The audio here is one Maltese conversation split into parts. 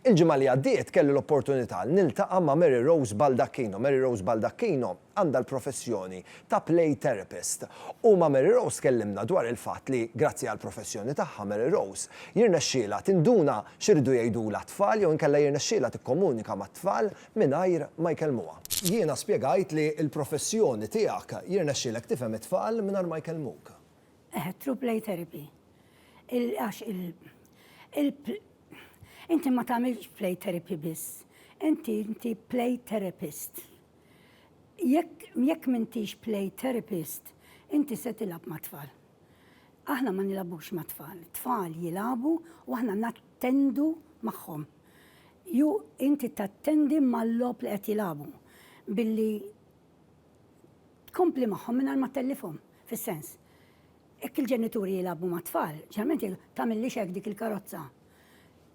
Il-ġimgħa li għaddiet kelli l-opportunità niltaqa' ma' Mary Rose Baldacchino. Mary Rose Baldacchino għandha l-professjoni ta' Play Therapist u ma' Mary Rose tkellimna dwar il-fatt li, grazzi għall-professjoni tagħha, Mary Rose jirnexxielha tinduna x'iridu jgħidulha t-tfal jew inkella jirnexxielha tikkomunika mat-tfal mingħajr ma jkellmuha. Jiena spjegajt li l-professjoni tiegħek jirnexxielek tifhem it-tfal mingħajr ma jkellmuk. Eħe, through play therapy. Għax il, il, inti ma tagħmilx play therapy biss. Inti inti play therapist. Jekk jekk m'intix play therapist, inti se tilgħab mat-tfal. Aħna ma nilagħbux mat-tfal. Tfal jilagħbu u aħna tattendu magħhom. Jew inti tattendi mal-logħob li qed jilagħbu billi tkompli magħhom mingħajr ma ttellifhom. Fis-sens, jekk il-ġenituri jilagħbu mat-tfal, ġeneralment jgħidu, tagħmillix hekk dik il-karozza.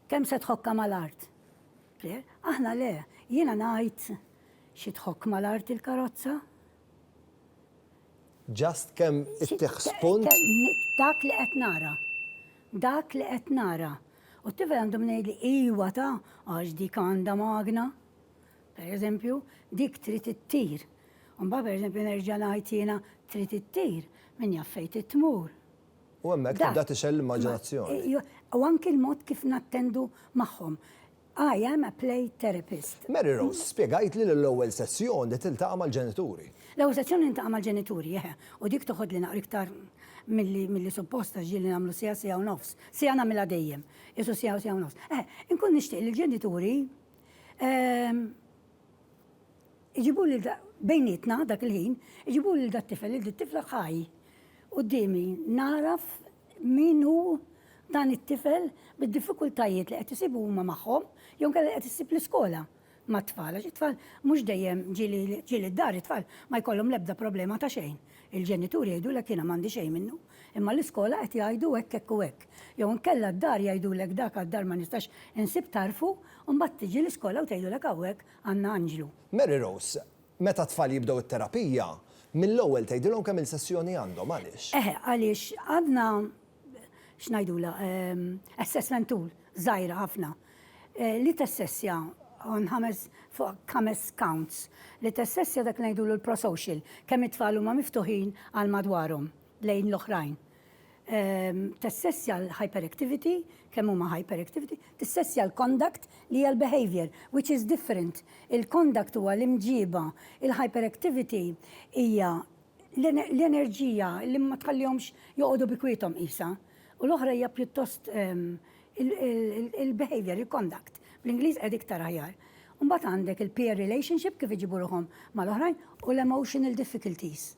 Kemm se tħokkha mal-art? Clear? Aħna le, jiena ngħid xi tħokk mal-art il-karozza? Just kemm ittih spunt. Dak li qed nara. Dak li qed nara. U t-tifel għandu min jgħidli iwa ta' għax dik għandha magna. Per eżempju, dik trid ittir. U mbagħad per eżempju nerġa' ngħid jiena trid ittir, min jaf fejn trid tmur. U hemmhekk tibda tixgħel l-immaġinazzjoni. U anki l-mod kif nattendu magħhom. I am a play therapist. Mary Rose spjegajtli li l-ewwel sessjoni tiltaqa' mal-ġenituri. L-ewwel sessjoni niltaqa' mal-ġenituri, eħe, u dik toħodli naqra iktar milli milli suppost għax ġieli nagħmlu siegħa, siegħa u nofs. Siegħa nagħmilha dejjem. Qisu siegħa u siegħa u nofs. Eħe, inkun nixtieq li l-ġenituri Iġibu lil da, bejnietna dak il-ħin, iġibu lil dat-tifel, lil dit-tifla ħaj. Quddiemi nagħraf min hu dan it-tifel bid-diffikultajiet li qed isibu huma magħhom jew inkella li qed issib l-iskola mat-tfal għax it-tfal mhux dejjem ġieli d-dar it-tfal ma jkollhom l-ebda problema ta' xejn. Il-ġenituri jgħidulek jiena m'għandi xejn minnu. Imma l-iskola qed jgħidu hekk hekk u hekk. Jew inkella d-dar jgħidulek dak għad-dar ma nistax insib tarfu, u mbagħad tiġi l-iskola u tgħidulek hawnhekk għandna anġlu. Mary Rose, Meta t-tfal jibdew it-terapija, mill-ewwel tgħidilhom kemm-il sessjoni għandhom, għaliex? Eħe, għaliex għandna, x'ngħidulha, assessment tool żgħira ħafna. li tessessja on ħames fuq ħames counts, li tessessja dak li ngħidulu l-prosocial, kemm it-tfal huma miftuħin għal madwarhom, lejn l-oħrajn. Tessessja l-hyperactivity, kemm huma hyperactivity, tissessja l-conduct li hija l-behaviour, which is different. Il-conduct huwa l-imġiba, il-hyperactivity hija l-enerġija li ma tħallihomx joqogħdu bi kwiethom qisha. U l-oħra hija pjuttost il-behavior, il-conduct, bl-Ingliż qed iktar aħjar. Mbagħad għandek il-peer relationship kif iġibu ruħhom mal-oħrajn u l-emotional difficulties.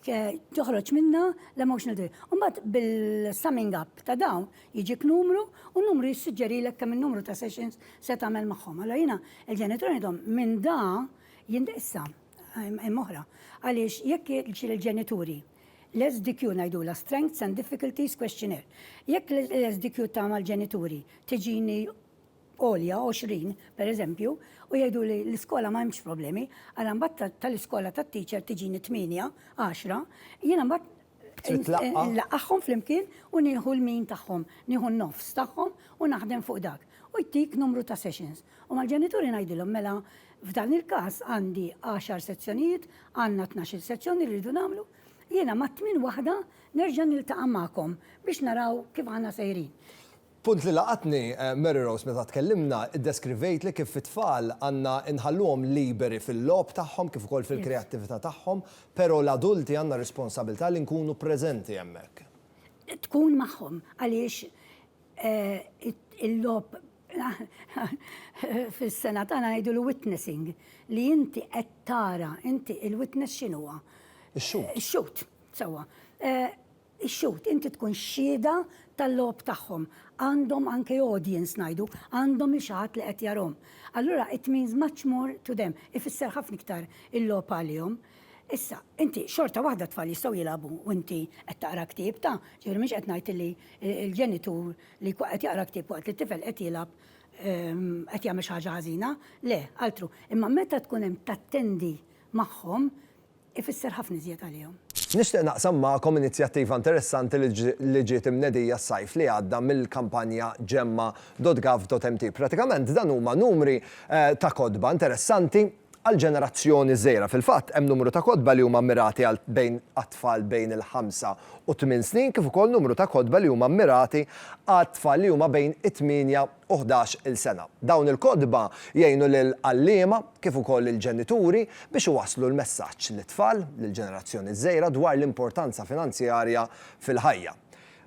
Toħroġ minna l-emotional difficulties. Mbagħad bil-summing up ta' dawn jiġik numru u numru jissuġġerilek kemm in-numru ta' sessions se tagħmel magħhom. Allora jiena il-ġenitur ngħidhom minn da jindissa hemm oħra. Għaliex jekk il-ġenituri L-SDQ ngħidulha Strengths and Difficulties Questionnaire. Jekk l-SDQ ta' mal-ġenituri tiġini għolja 20, per eżempju, u jgħidu li l-iskola ma hemmx problemi, għal mbagħad tal-iskola tat-teacher tiġini 8, 10, jiena mbagħad Nlaqqaħħom flimkien u nieħu l-min tagħhom, nieħu n-nofs tagħhom u naħdem fuq dak. U jtik numru ta' sessions. U mal-ġenituri ngħidilhom mela f'dan il-każ għandi 10 sezzjonijiet, Għandna tnax-il sezzjoni li rridu nagħmlu, jiena mat-tmien waħda nerġa' niltaqa' magħkom biex naraw kif aħna sejrin. Punt li laqatni, Mary Rose meta tkellimna, iddeskrivejtli kif it-tfal għandna nħalluhom liberi fil-logħob tagħhom kif ukoll fil-kreattività tagħhom, però l-adulti għandna r-responsabilità li nkunu preżenti hemmhekk. Tkun magħhom għaliex il-logħob Fis-sengħa tagħna ngħidulu witnessing, li inti qed tara, inti il-witness x'inhuwa? Ix-xhud. Ix-xhud, sewwa. Ix-xhud, inti tkun xhieda tal-logħob tagħhom. Għandhom anke audience ngħidu, għandhom xi ħadd li qed jarahom. Allura it means much more to them, ifisser ħafna iktar il-logħob għalihom. Issa, inti xorta waħda t-tfal jistgħu jilagħbu u inti qed taqra ktieb ta', ġifieri mhux qed ngħid li l-ġenitur Li jkun qed jaqra ktieb waqt li t-tifel qed jilgħab qed jagħmel xi ħaġa ħażina? Le, altru. Imma meta tkun hemm tattendi magħhom, ifisser ħafna iżjed għalihom. Nixtieq naqsam magħkom inizjattiva interessanti li ġiet imnedija s-sajf li għadda mill-kampanja Gemma.gov.mt. Pratikament dan huma numri ta' kotba interessanti, Għall-ġenerazzjoni żgħira, fil-fatt, hemm numru ta' kotba li huma mmirati għal bejn għat-tfal bejn il-ħamsa u t-tmien snin kif ukoll numru ta' kotba li huma mmirati għat-tfal li huma bejn it-tmienja u ħdax il sena. Dawn il-kotba jgħinu lill-għalliema kif ukoll lill-ġenituri biex iwasslu l-messaġġ lit-tfal, lill-ġenerazzjoni żgħira dwar l-importanza finanzjarja fil-ħajja.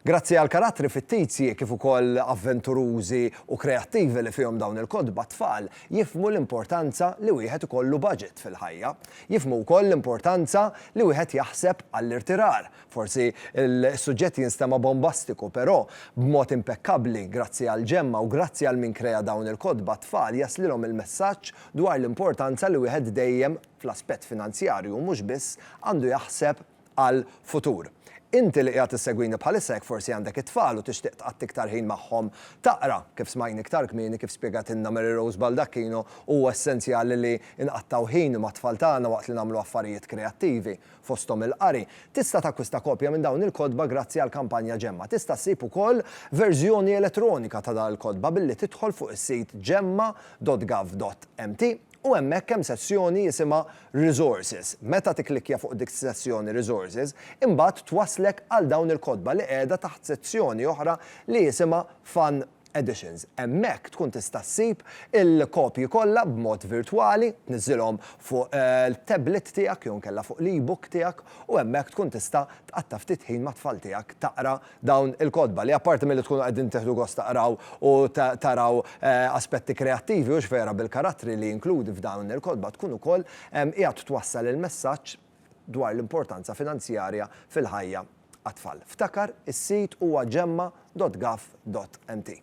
Grazzi għall-karattri fittizji kif ukoll avventurużi u kreattivi li fihom dawn il-kotba t-tfal jifhmu l-importanza li wieħed ikollu baġit fil-ħajja. Jifhmu wkoll l-importanza li wieħed jaħseb għall-irtirar. Forsi s-suġġett jinstema' bombastiku però b'mod impekkabbli grazzi għall-ġemma u grazzi għal min krea dawn il-kotba t-tfal jaslilhom il-messaġġ dwar l-importanza li wieħed dejjem fl-aspett finanzjarju u mhux biss għandu jaħseb għall-futur. Inti li qiegħed issegwini bħalissa jekk forsi għandek it-tfal u tixtieq tqatt iktar ħin magħhom taqra, kif smajn iktar kmieni kif spjegatilna Mary Rose Baldacchino huwa essenzjali li nqattgħu ħin mat-tfal tagħna waqt li nagħmlu affarijiet kreattivi, fosthom il-qari. Tista' takkwista kopja minn dawn il-kotba grazzi għall-kampanja Ġemma. Tista' ssib ukoll verżjoni elettronika ta' dawn il-kotba billi tidħol fuq is-sit gemma.gov.mt. u hemmhekk hemm sezzjoni jisimha Resources. Meta tikklikkja fuq dik sezzjoni Resources, imbagħad twasslek għal dawn il-kotba li qiegħda taħt sezzjoni oħra li jisimha Fun Editions. Hemmhekk tkun tista' ssib il-kopji kollha b'mod virtwali, tniżżilhom fuq il-tablet tiegħek jew inkella fuq l-e-book tiegħek u hemmhekk tkun tista' tqatta' ftit ħin mat-tfal tiegħek taqra dawn il-kotba li apparti milli tkunu qegħdin tieħdu gost taqraw u taraw aspetti kreattivi u x'vera bil-karattri li jinkludi f'dawn il-kotba tkun ukoll qiegħed twassal il-messaġġ dwar l-importanza finanzjarja fil-ħajja għat-tfal. Ftakar, is-sit huwa gemma dot gov dot mt.